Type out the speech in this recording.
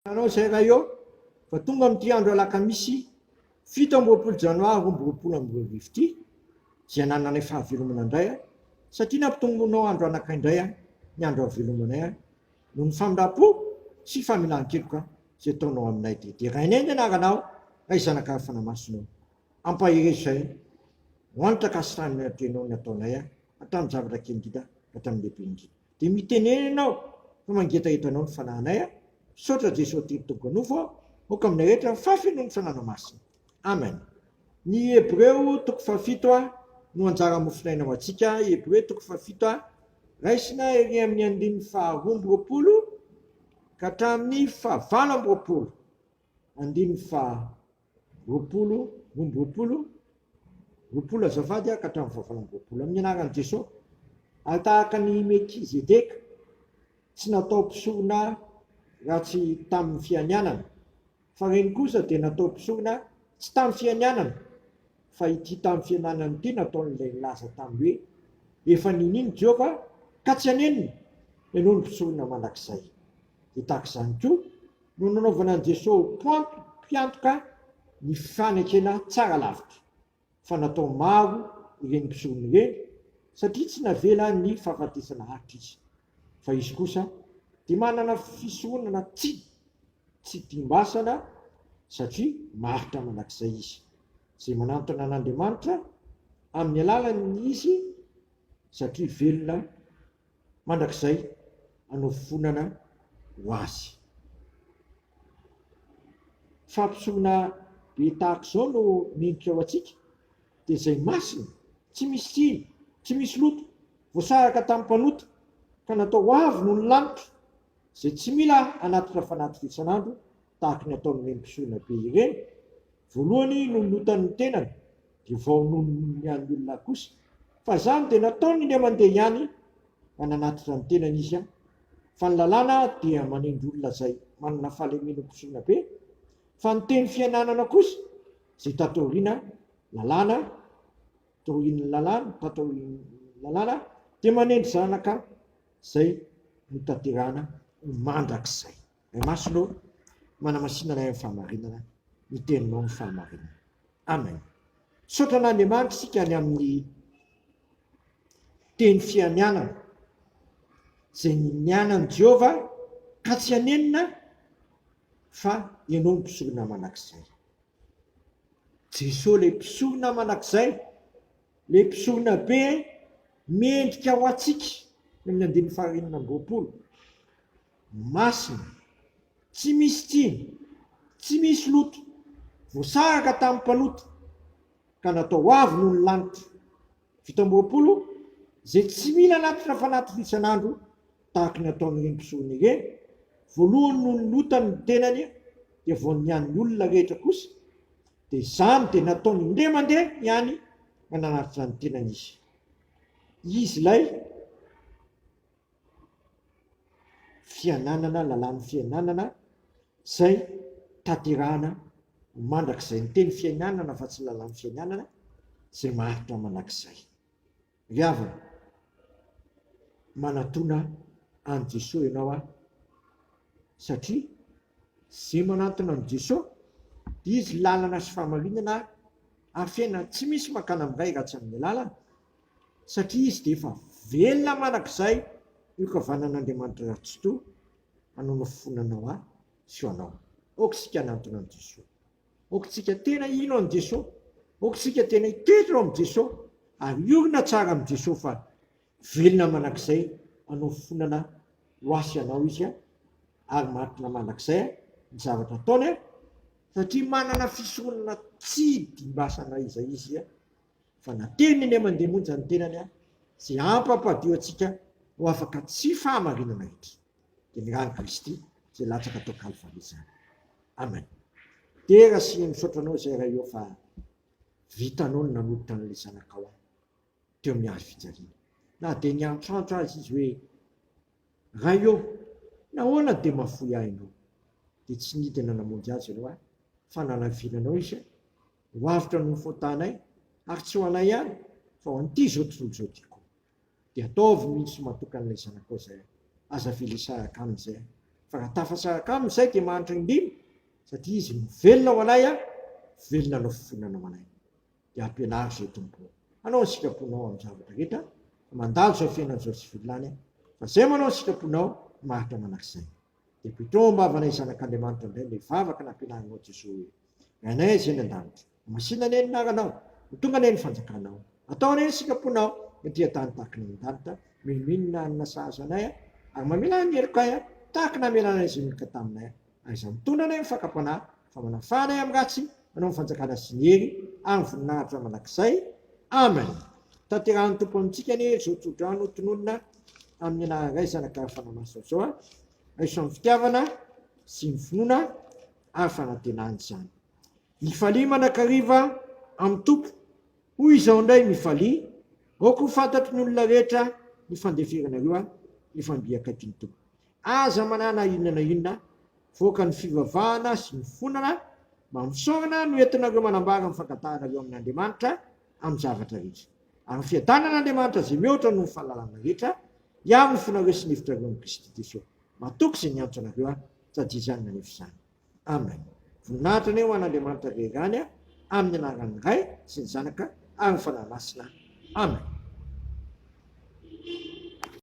Fantatrareo izay raha eo fa tonga amin'ity andro alakamisy fito amby roapolo janoary roa amby roapolo amby roa arivo ity izay hanananay fahavelomana indray an, satria nampitomboinao andro anakay indray an, ny andro havelomanay an, noho ny famindram-po sy familan-keloka izay ataonao aminay, dia derainay ny anaranao, Ray Zanaka Fanamasinao. Ampaherezo izay ho an'ny takasitran'ny Tenao nataonay an, hatramin'ny zavatra kely indrindra ka hatramin'ny lehibe indrindra. Dia mitenena ianao fa mangetaheta anao ny fanahinay a! Misaotra Jesoa Telo Tompo Anofo a! Aoka aminay rehetra ny fahafenoan'ny Fananao Masina. Amen. Ny Hebreo toko fahafito a no anjara mofonaina ho antsika, Hebreo toko fahafito a, raisina ery amin'ny andininy faharoa amby roapolo ka hatramin'ny fahavalo amby roapolo, andininy faha. Roapolo, omby roapolo, roapolo azafady ka hatramin'ny fahavalon'ny roapolo. Amin'ny anaran'i Jesoa, ary tahaka an'i Melkizedeka, tsy natao mpisorona ratsy tamin'ny fianianana, fa ireny kosa dia natao mpisorona tsy tamin'ny fianianana, fa ity tamin'ny fianianana ity nataon'ilay nilaza tamin'ny hoe, Efa niniana i Jehovah, ka tsy hanenina, ianao no mpisorona mandrakizay. Dia tahaka izany koa, no nanaovana an'i Jesosy ho pointy, mpiantoka, ny fanekena tsara lavitra, fa natao maro ireny mpisorona ireny, satria tsy navela ny fahafatesana haharitra izy, fa izy kosa dia manana fisoronana tsy tsy timbasana, satria maharitra mandrakizay izy, izay manantona an'Andriamanitra amin'ny alalan'ny izy, satria velona mandrakizay hanofonana ho azy. Fampitsoina be tahaka izao no mendrika ho antsika, dia izay masina, tsy misy tsiny, tsy misy loto, voasaraka tamin'ny mpanota, ka natao avo noho ny lanitra, izay tsy mila hanatitra fanatitra isan'andro tahaka ny ataon'ireny mpisorona be ireny, voalohany no lotan'ny tenany, Dia vao nonon'ny an'ny olona kosa fa izany dia nataony indray mandeha ihany mba nanatitra ny tenany izy an! Fa ny lalàna dia manendry olona izay manana fahalemena ompisoana be, fa ny teny fiananana kosa izay tato aoriana lalàna, taorian'ny lalàna, tato aorian'ny lalàna dia manendry zanaka izay notanterahana ho mandrakizay. Ny maso no manamasina anay amin'ny fahamarinana, ny teninao no fahamarinana. Amen. Misaotra an'Andriamanitra isika any amin'ny teny fianianana izay nianan'i Jehovah ka tsy hanenina fa ianao ny mpisorona mandrakizay. Jesoa ilay mpisorona mandrakizay, ilay mpisorona be mendrika ho antsika, ny amin'ny andininy fahaenina amby roapolo. Masina. Tsy misy tsiny. Tsy misy loto. Voasaraka tamin'ny mpanota. Ka natao avo noho ny lanitra. Fito amby roapolo, Izay tsy mila anatitra fanaty fito isan'andro, tahaka ny ataon'ireny mpisorona ireny, voalohany no nilotany ny tenany dia vao ny an'ny olona rehetra kosa, dia izany dia nataony indray mandeha ihany ka nanatitra ny tenany izy. Izy ilay fiananana, lalàn'ny fiananana izay tanterahana mandrakizay. Ny teny fiainanana fa tsy lalàn'ny fiainanana izay maharitra manakizay. Ry havana, manatona an'i Jesoa ianao aho satria izay manantona an'i Jesoa dia Izy lalana sy fahamarinana ary fiainana. Tsy misy mankana amin'ny Ray raha tsy amin'ny alalany. satria izy dia efa velona manak'izay io kavanan'Andriamanitra ratsitoa hanao nofofonana ho ahy sy ho anao. Aoka isika hanantona an'i Jesoa. Aoka tsika tena hino an'i Jesoa. Aoka tsika tena hitoetra eo amin'i Jesoa ary hiorina tsara amin'i Jesoa fa velona manak'izay hanao fofonana ho ahy sy anao Izy ary marina manak'izay ny zavatra ataony satria manana fisoronana tsy dimbasana izay Izy. fa na teo ny eny mandeha monja ny tenany aho izay hampampadio antsika ho afaka tsy fahamarinana hetra dia ny rany kristy izay latsaka tao kalvary izany amen dera sy misaotra anao izay ray o fa vitanao ny nanolotra an'ilay zanakao aho teo amin'ny hazo fijaliana na dia ny antrantro azy izy hoe ray o nahoana dia mafoy ahy ianao dia tsy nidina namonjy azy ianao ahy fa nanaviana anao izy Ho avotra noho ny fôtanay, ary tsy ho anay ihany, fa ho an'ity izao tontolo izao ity koa. Dia ataovy ny tsy matoky an'ilay Zanakao izay, aza velesy araka aminy izay, fa raha tafasa araka aminy izay dia mahantra indrindra, satria izy no velona ho anay ary velona hanao fifonana ho anay. Dia ampianaro izay Tompo ô, hanao ny sitraponao amin'ny zavatra rehetra, fa mandalo izao fiainana izao tsy velona any aho, fa izay manao ny sitraponao no maharitra manak'izay. Dia bidon am-bavanay zanak'Andriamanitra indray ilay vavaka nampianarinao Jesoa hoe, Ry Anay Azia any an-danitra, masina anie ny anaranao, ho tonga anie ny fanjakanao, atao anie ny sitrapon-Nao ety an-tany tahaka ny any an-danitra, minoino ny hanina sahaza anay Aho, ary mamelà ny helokay Aho, tahaka namelànay izay nilika taminay Aho. Aiza mitondra anay ny fakam-panahy? fa manafahana ahy amin'ny ratsy, manao ny fanjakana sy ny hery ary ny voninahitra mandrakizay. Amen. Tanterahin'ny Tompo amintsika anie izao tsodrano tononina amin'ny anaran'ny Ray, Zanaka ary Fanahy Masina izao. Raiso amin'ny fitiavana sy ny finoana ary fanantenana izany. Mifalia manakariva amin'ny Tompo. Hoy izao indray mifalia, aoka ho fantatry ny olona rehetra ny fandeferanareo ahy, efa mby akaiky ny Tompo. Aza manana inona na inona voaka ny fivavahana sy ny fonana mba misaorana no entinareo manambara ny fangatahanareo amin'Andriamanitra amin'ny zavatra rehetra. Ary ny fiadanan'Andriamanitra izay mihoatra noho ny fahalalana rehetra, hiaro ny fonareo sy ny hevitrareo amin'i Kristy Jesosy. Matoky izay niantso anareo aho, sady izany nanefa izany. Amen. Voninahitra anie ho an'Andriamanitra irery ihany, amin'ny anaran'ny Ray sy ny Zanaka ary ny Fanahy Masina. Amen.